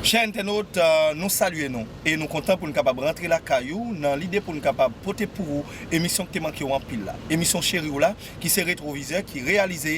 Chè entènot, nou salye nou e nou kontan pou n kapab rantre lakay ou nan lide pou n kapab pote pou ou emisyon k te manke w anpil la. Emisyon cheri w la ki se Retwovizè ki reyalize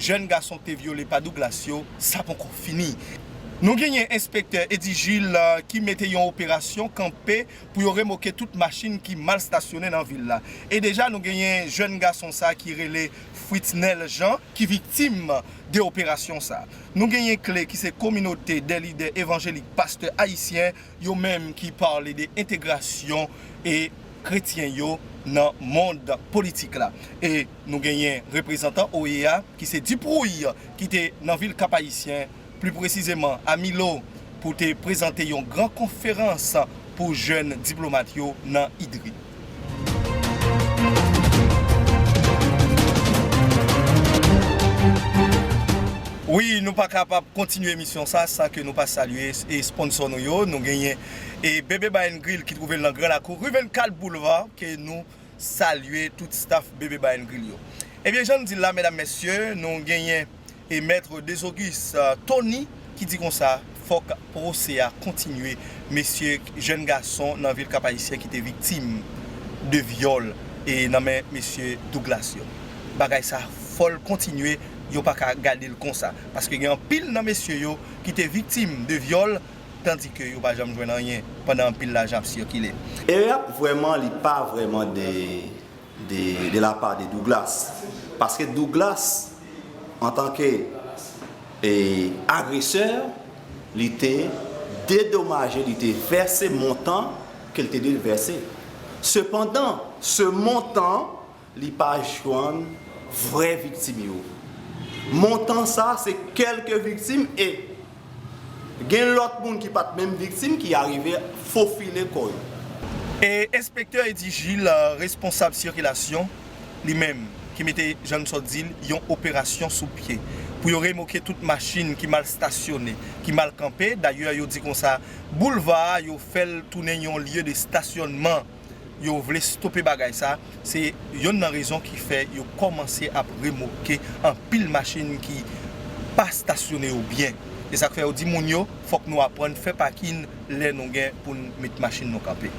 jèn gason te vyole pa Douglas yo, sa ponkò fini. Nou genyen enspektè Eddy Gilles ki mete yon operasyon kanpe pou yo remoke tout machin ki mal stasyone nan vil la. E deja nou genyen jèn gason sa ki rele Fritznel Jean ki viktim de operasyon sa. Nou genyen kle ki se kominote de lidè evanjelik pastè ayisyen Yo menm ki pale de entegrasyon e kretyen yo nan mond politik la. E nou genyen reprezantan OEA ki se Duprouille ki te nan vil Kap Ayisyen, pli presizeman a Milo pou te prezante yon gran konferans pou jèn diplomat yo nan IDRI. Wi nou pa kapab kontinye emisyon sa san ke nou pa salye esponnsò nou yo, nou genyen BB Bar and Grill ki twouve l nan gran lakou ri 24 boulva ke nou salye tout staf BB Bar and Grill yo. Ebyen jan m di l la medam mesye nou genyen. e Maître Desauguis Thony ki di konsa fòk pwose a kontinye mesye jèn gason nan vil Kapayisyen ki te viktim de vyòl e nan men mesye Douglas yo bagay sa fòl kontinye yo pa ka gadel konsa paske gen anpil nan mesye yo ki te viktim de vyòl tandi ke yo pa janm jwenn anyen pandan anpil lajan ap sikile. Erè ap vrèman li pa vrèman de de la part de Douglas paske Douglas en tant que agresseur li te dedomaje li te vèse montant ke li te dwe vèse sepandan se montant li pa jwenn vrè viktim yo montant sa se kèlke viktim e Gen lòt moun ki pat menm viktim ki arive fofile kò yo. Enspektè Eddy Gilles, responsab sikilasyon, li menm ki mete, jan n sot di l, yon operasyon sou pye pou yo remoke tout machin ki mal stasyone, ki mal kanpe. Dayè yo di konsa boulva a yo fè l tounen yon lye de stasyònman. yo vle stope bagay sa, se yonn nan rezon ki fè yo kòmanse ap remoke anpil machin ki pa stasyone yo byen. Se sak fè yo di moun yo fòk nou aprann fè pakin lè nou gen poun met machin nou kanpe.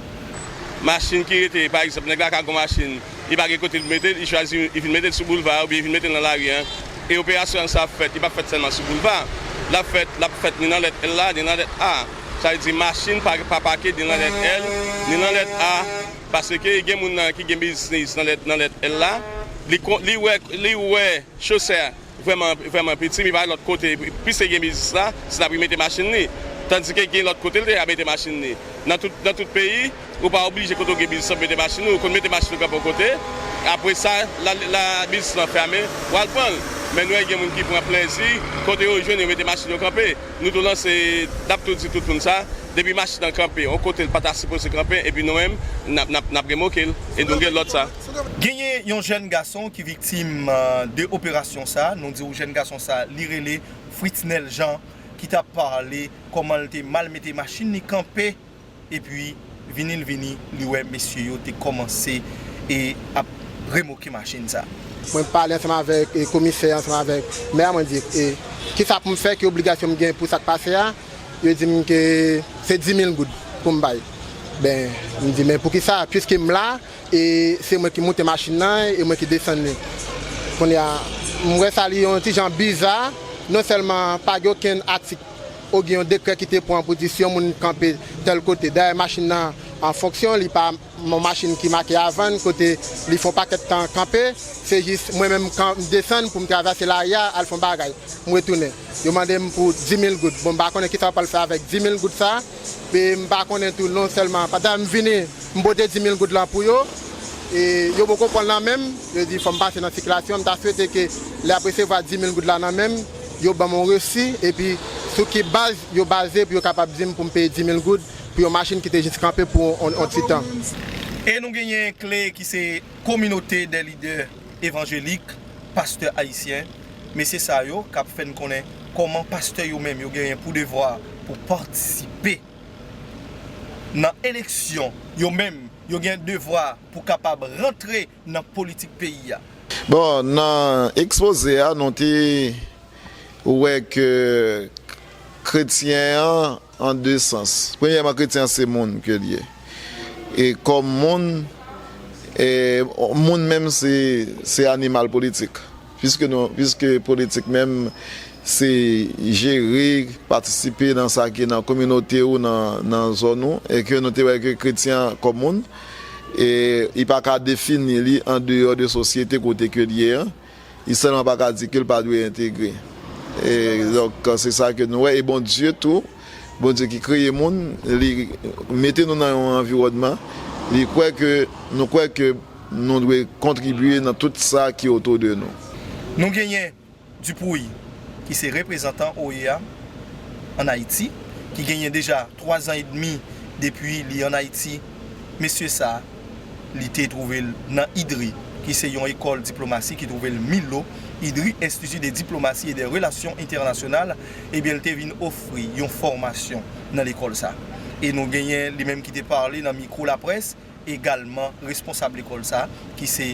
Machin ki rete, pa egzanp nèg la ka gon machin, li pa gen kote li mete l, li chwazi li vin mete l sou boulva a oubyen li vin mete l nan lari an e operasyon sa ap fèt, li pap fèt sèlman sou boulva, lap fèt, lap fèt ni nan lèt L la, ni nan lèt A. sa vle di machin pa ka pake ni lan lèt L ni lan lèt A paske gen moun nan ki gen bizniz nan lèt L la li wè chosè a vrèman piti li pa wè lòt kote pwis li gen biznis la se la pou li mete machin li tandike gen lòt kote li ta mete machin li nan tout peyi. Ou pa oblije kote ou gen biznis lan pou mete machin ou, ou konn mete machin ou kanpe yon kote, apre sa lè biznis lan fèmen ou al pran l. Men nou wè gen moun ki pran plèzi kote yo jwenn yo mete machin yo kanpe. Nou tou lanse, n ap tou di tout moun sa, depi machin an kanpe yon kote l pa ta sipoze kanpe epi nou menm n ap remoke l e nou gen lòd sa. Genyen yon jèn gason ki viktim de operasyon sa, nou di w jèn gason sa li rele Fritznel Jean ki t ap pale kòman l te mal mete machin li kanpe Epi vini l vini li wè mesye yo te kòmanse e ap remoke machin sa. Mwen pale ansanm avèk komisè ansanm avèk mè a mwen di e kisa pou m fè ki obligasyon m gen pou sa k pase a yo di m ke se dimil goud pou m bay ben m di men poukisa piske m la e se mwen ki moute machin nan e mwen ki desann li kounye a m wè sa li yon ti jan biza non sèlman pa gen okenn atik O Gen yon dekrè ki te pran pou di si yon moun kanpe tèl kote dèyè machin nan an fonksyon li pa yon machin ki make a vann kote li fon pakèt tan kanpe se jis mwen menm m kan m desann pou m travèse lari a al fon bagay m retounen yo mande m pou dimil goud bon m pa konnen kisa yo pral fè avèk dimil goud sa e m pa konnen tou non sèlman pandan m vini m pote dimil goud lan pou yo e yo poko pran l nan men m yo di fò m pase nan sikilasyon m ta swete ke lè y ap resevwa dimil goud la nan men m. Yo ban m yon resi epi sou ki baz yo baze pou yo kapab di m pou m peye 10 mil goud pou yon machin ki te jis kanpe pou yon ti tan? E nou genyen kle ki se kominote dè lidè evanjelik, pastè ayisyen, mesye sa yo k ap fè n konnen kòman pastè yo menm yo genyen pou devwa pou patisipe nan eleksyon, yo menm yo gen devwa pou kapab rantre nan politik peyi a. Bon, nan ekspoze a nou te wè ke kretyen an an de sans. Premyèman kretyen an se moun ke li ye. E kòm moun, moun menm se animal politik. Piske nou, piske politik menm se jere, patisipe nan sa ki nan kominote ou, nan zòn ou, e ke nou te wè ke kretyen an kòm moun, e li pa ka defini li an deyò de sosyete kote ke li ye an, li sèlman pa ka di ke li pa dwe entegre. E donk se sa ke nou wè, e Bondye tou. Bondye ki kreye moun, li mete nou nan yon anviwònman, li kwè ke, nou kwè ke nou dwe kontribye nan tout sa ki otou de nou. Nou genyen Dupuy ki se reprezantan OEA an Ayiti, ki genyen deja 3 zan edmi depi li an Ayiti. Mesye sa. Li te twouve l nan IDRI, ki se yon ekòl diplomasi ki twouve l Milo, IDRI, Institut de Diplomatie et des Relations Internationales, ebyen l te vin ofri yon fòmasyon nan lekòl sa. E nou genyen li menm ki te pale nan mikwo laprès, egalman responsab lekòl sa ki se.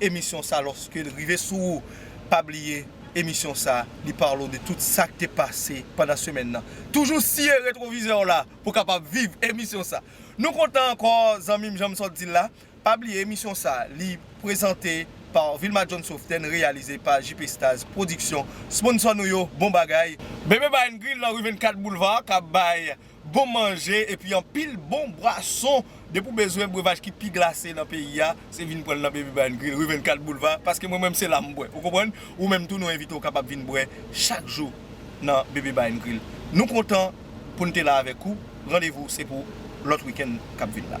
emisyon sa lòskel rive sou ou pa bliye emisyon sa li parle de tout sak te pase pandan semèn nan toujou siye retwovizè w la pou kapab viv emisyon sa nou kontan ankò zanmim janm sot dil la pa bliye emisyon sa li prezante pa Vilma John Soften reyalize pa JP Stars Production sponsò nou yo bon bagay. Bebe Bain Grill nan rue 24 Boulevard kap bay bon manje epi anpil bon bwason depi w bezwen brevaj ki pi glase nan peyi a se vin pran l nan Baby Bar and Grill rue 24 boulva paske mwen menm se la m bwè ou konprann ou menm tou nou envite w kapab vin bwè chak jou nan Baby Bar and Grill nou kontan pou n te la avèk ou randevou se pou lòt weekend k ap vin la.